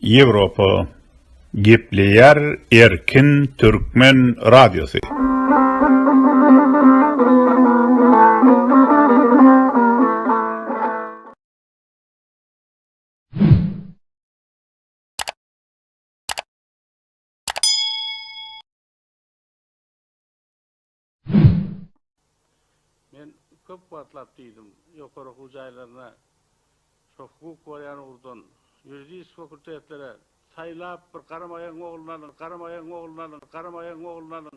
Ýewropa gepleýär erkin türkmen radiosy. Men köp wagtlap diýdim, ýokary okuw jaýlaryna şo hukuk bolýan ugurdan, ýuridisk fakultetlere saýlap bir garamaýagyň ogluny alyň, garamaýagyň ogluny alyň, garamaýagyň ogluny alyň.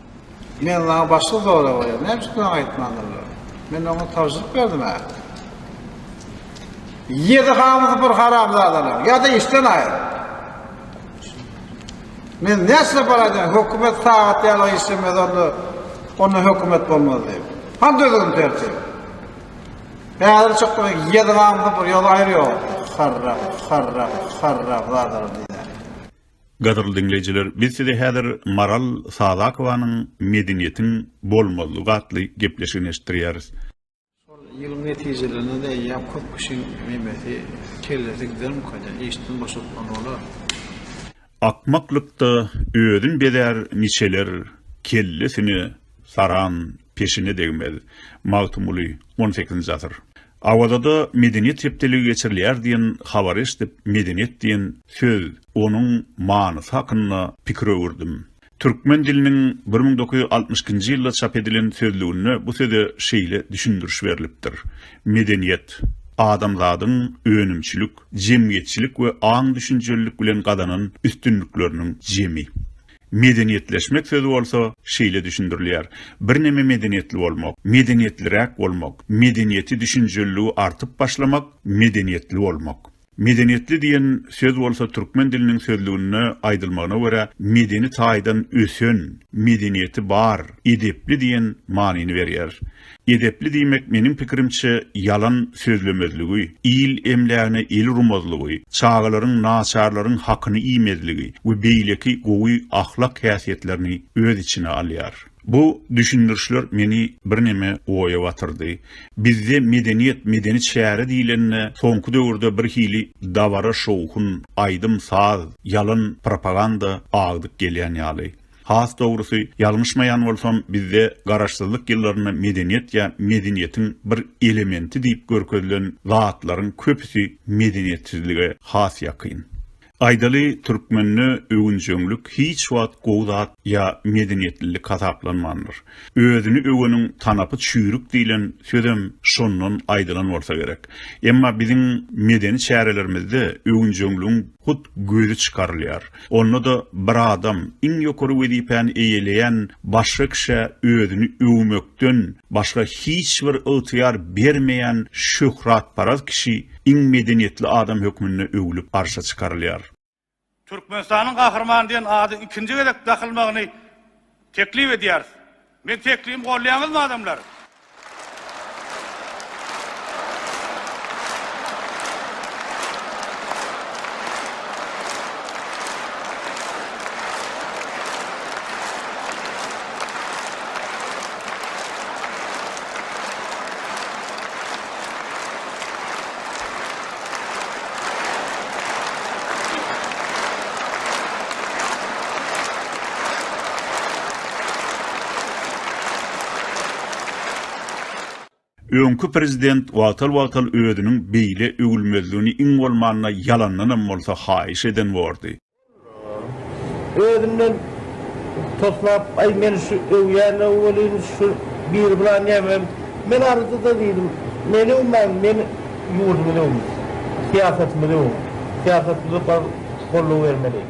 Men saňa başga sorag berýän. Näme üçin maňa aýtmandylar? Men oňa tabşyryk berdim-ä. Ýedi hamysy bir haramzadalar. Ýa-da işden aýyr. Men näçe para aýdýan? Hökümet sagat ýaly işlemez onda. Onda hökümet bolmaz diýip. Han düzgün tertip. Häzir çykdy ýedi hamysy bir ýol aýyrýar. Harra, harra, harra, harra diýýär. Gadyrly diňleýjiler, biz size häzir Maral Sadakowanyň Medeniýetiň bolmazlygy atly gepleşigini eşitdirýäris. Şol ýylyň netijelerine-de eýýäm köp kişiň meýmesi, kellesi gidermikänä, işden boşatman bolar. Akmaklykda özün bezär niçeler, kellesine saran peşine degmez. Magtymguly, on sekizinji asyr. Awazada medeniýet hepdeligi geçirilýär diýen habary eşidip medeniýet diýen söz, onuň manysy hakynda pikir öwürdim. Türkmen diliniň bir müň dokuz ýüz altmyş ikinji ýylda çap edilen sözlüginde bu söze şeýle düşündiriş berlipdir, Medeniýet, adamzadyň önümçilik, jemgyýetçilik we aň-düşünjelilik bilen gazanan üstünlikleriniň jemi. Medeniýetleşmek sözi bolsa şeýle düşündirilýär, birneme medeniýetli bolmak, medeniýetliräk bolmak, medeniýeti düşünjeliligi artyp başlamak, medeniýetli bolmak. Medeniýetli diýen söz bolsa türkmen diliniň sözlüginde aýdylmagyna görä medeni taýdan ösen, medeniýeti bar, edepli diýen manyny berýär. Edepli diýmek meniň pikirimçe ýalan sözlemezligi, il emlägine el urmazlygy, çagalaryň, naçarlaryň hakyny iýmezligi we beýleki gowy ahlak häsiýetlerini öz içine alýar. Bu düşündirişler meni birneme oýa batyrdy. Bizde medeniýet, medeni çäre diýlende soňky döwürde bir hili dabara-şowhun, aýdym-saz, ýalan propaganda agdyk gelýän ýaly. Has dogrusy, ýalňyşmaýan bolsam, bizde Garaşsyzlyk ýyllarynda medeniýet ýa medeniýetiň bir elementi diýip görkezilen zatlaryň köpüsi medeniýetsizlige has ýakyn. Aýdaly, türkmende öwünjeňlik hiç wagt gowy zat ýa medeniýetlilik hasaplanmandyr. Özüni öweniň tanapy çüýrük diýlen sözem şondan aýdylan bolsa gerek. Emma biziň medeni çärelerimizde öwünjeňligiň hut gözi çykarylýar. Onda-da bir adam iň ýokary wezipäni eýeleýän başga kişä özüni öwmekden başga hiç bir ygtyýar bermeýän şöhratparaz kişi iň medeniýetli adam hökmünde öwlüp arşa çykarylýar. Türkmenistanyň Gahrymany diýen ady ikinji gezek dakylmagyny teklip edýäris. Meň teklibimi golýaňyzmy adamlar? Öňki prezident wagtal-wagtal özüniň beýle öwülmezligini iň bolmanda ýalandanam bolsa haýyş eden bordy. Ol özünden toslap, Aý, meni şu öwýänler welin, şu biri bilan nämem? Men arzyda diýdim, Meni öwmäň, men ýurdumyzy öwüň, syýasatymyzy öwüň, syýasatymyza bar goldaw bermeli.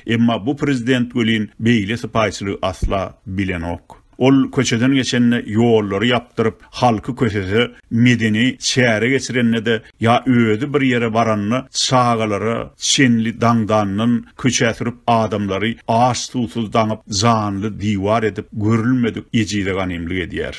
Emma bu prezident welin beýle sypaýyçylygy asla bilenok. Ol köçeden geçende ýollary ýapdyryp, halky kösese, medeni çäre geçirende-de ýa özi bir ýere baranda çagalara çenli daňdandan köçä sürüp adamlary aç-suwsuz daňyp janly diwar edip görülmedik ejize ganymlyk edýär.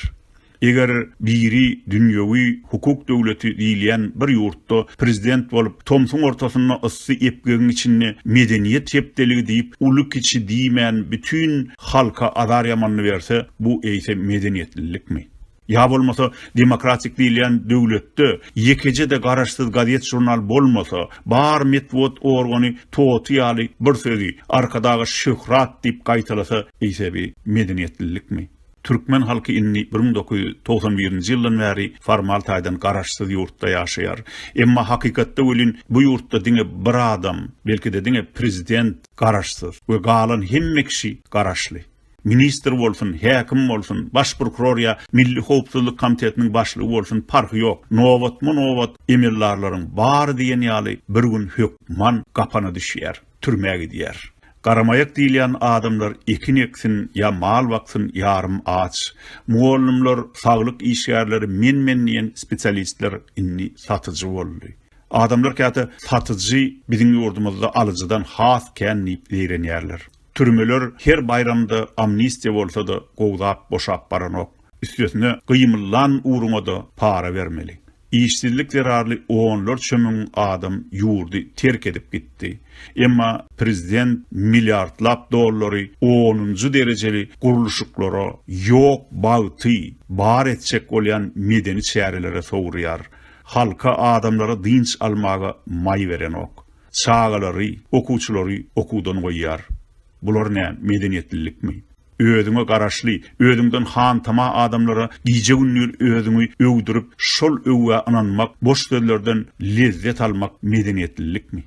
Eger biri dünýewi hukuk döwleti diýilýän bir ýurtda prezident bolup tomsuň ortasynda yssy epgegiň içinde medeniýet hepdeligi diýip uly-kiçi diýmän bütin Halka azar ýamanyny berse, bu eýse medeniýetlilikmi? Ýa bolmasa, demokratik diýilýän döwletde ýekeje-de garaşsyz gazet-žurnal bolmasa, bar metbugat organy toty ýaly bir sözi, Arkadaga şöhrat diýip gaýtalasa, eýse bi medeniýetlilikmi? Türkmen halky indi bir müň dokuz ýüz togsan birinji ýyldan bäri formal taýdan garaşsyz ýurtda ýaşaýar. Emma hakykatda welin bu ýurtda diňe bir adam, belki-de diňe prezident, Garaşsyz we galan hemme kişi garaşly. Ministr bolsun, häkim bolsun, baş prokuror ýa Milli howpsuzlyk komitetiniň başlygy bolsun parhy ýok, nobatma-nobat emeldarlaryň bary diýen ýaly bir gün hökman gapana düşýär, türmä gidýär. Garamaýak diýilýän adamlar ekin eksin ýa mal baksyn ýarym aç. Mugallymlar, saglyk işgärleri, men-men diýen spesialistler indi satyjy boldy. Adamlar käte satyjy biziň ýurdumyzda alyjydan has kän diýip zeýrenýärler. Türmeler her baýramda amnistiýa bolsa-da gowzap boşap baranok. Üstesine gymyllan ugruňa-da para bermeli. Işsizlik zerarly onlarça müň adam ýurdy terk edip gitdi. Emma prezident milliardlap dollary onunjy derejeli gurluşyklara, ýok bagty bar etjek bolýan medeni çärelere sowurýar. Halka, adamlara dynç almaga maý berenok. Çagalary, okuwçylary okuwdan goýýar. Bular nä, medeniýetlilikmi? Özüňe garaşly, özüňden hantama adamlara gije-gündiz özüňi öwdürip, şol öwgä ynanmak, boş sözlerden lezzet almak medeniýetlilikmi?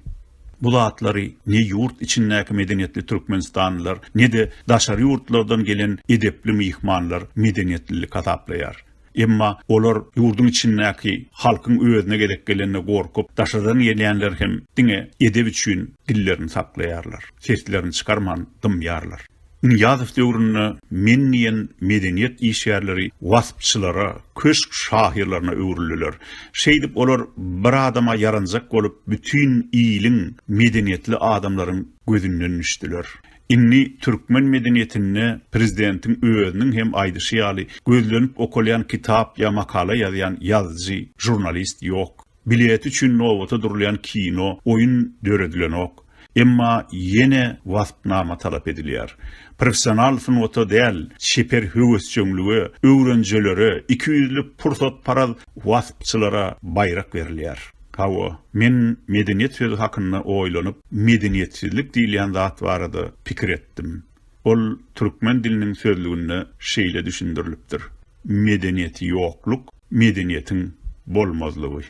Bu zatlary ne ýurt içindäki medeniýetli türkmenistanlylar, ne-de daşary ýurtlardan gelen edepli myhmanlar medeniýetlilik hasaplaýar. Emma olar ýurduň içindäki halkyň özüne gezek gelende gorkup, daşardan gelýänler hem diňe edep üçin dillerini saklaýarlar, seslerini çykarman dymýarlar. Nyýazow döwründe men diýen medeniýet işgärleri waspçylara, köşk şahyrlaryna öwrüldiler. Şeýdip olar bir adama ýaranjak bolup, bütin iliň, medeniýetli adamlaryň gözünden düşdüler. Indi türkmen medeniýetinde prezidentiň özüniň hem aýdyşy ýaly, gözlenip okalýan kitap ýa makala ýazýan ýazyjy, žurnalist ýok. Bileti üçin nobata durulýan kino, oýun döredilenok. Emma ýene waspnama talap edilýär. Professional sungata däl, çeper höwesjeňlige, öwrenjelere, ikiýüzli pursatparaz waspçylara baýrak berilýär. Hawa, men medeniýet sözi hakynda oýlanyp, medeniýetsizlik diýilýän zat barada pikir etdim. Ol türkmen diliniň sözlüginde şeýle düşündirilipdir, Medeniýeti ýokluk, medeniýetiň bolmazlygy.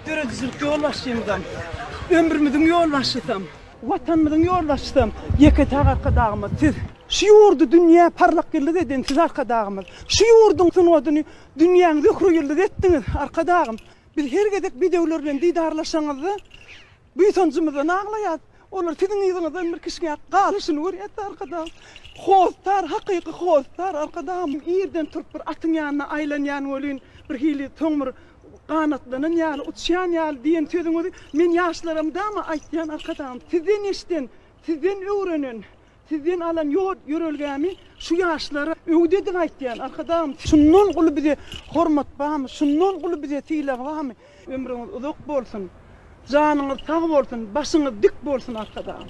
Döredijilik ýolbaşçymyzam, ömrümiziň ýolbaşçysam, Watanymyzyň ýolbaşçysam ýeke-täk Arkadagymyz, siz! Şu ýurdy dünýä parlak ýyldyz eden siz Arkadagymyz! Şu ýurduň sungatyny Dünýäň Zöhre ýyldyzy etdiňiz, Arkadagym! Biz her gezek bedewler bilen didarlaşanyňyzda, buýsanjymyzdan aglaýas. Olar siziň yzyňyzdan bir kişňäp galyşyny görýäs-de, Arkadagym! Hossar, hakyky hossar, Arkadagym! Irden turup bir atyň ýanyna aýlanýan welin, birhili soň bir ganatlanan ýaly, uçýan ýaly diýen sözüňizi men ýaşlara mydama aýtýan, Arkadagym! Sizden eşiden, sizden öwrenen, Sizden alan ýol ýörelgämi şu ýaşlara öwdediň aýtýan Arkadagym şundan uly bize hormat barmy şundan uly bize sylag barmy ömrüňiz uzak bolsun janyňyz sag bolsun başyňyz dik bolsun Arkadagym.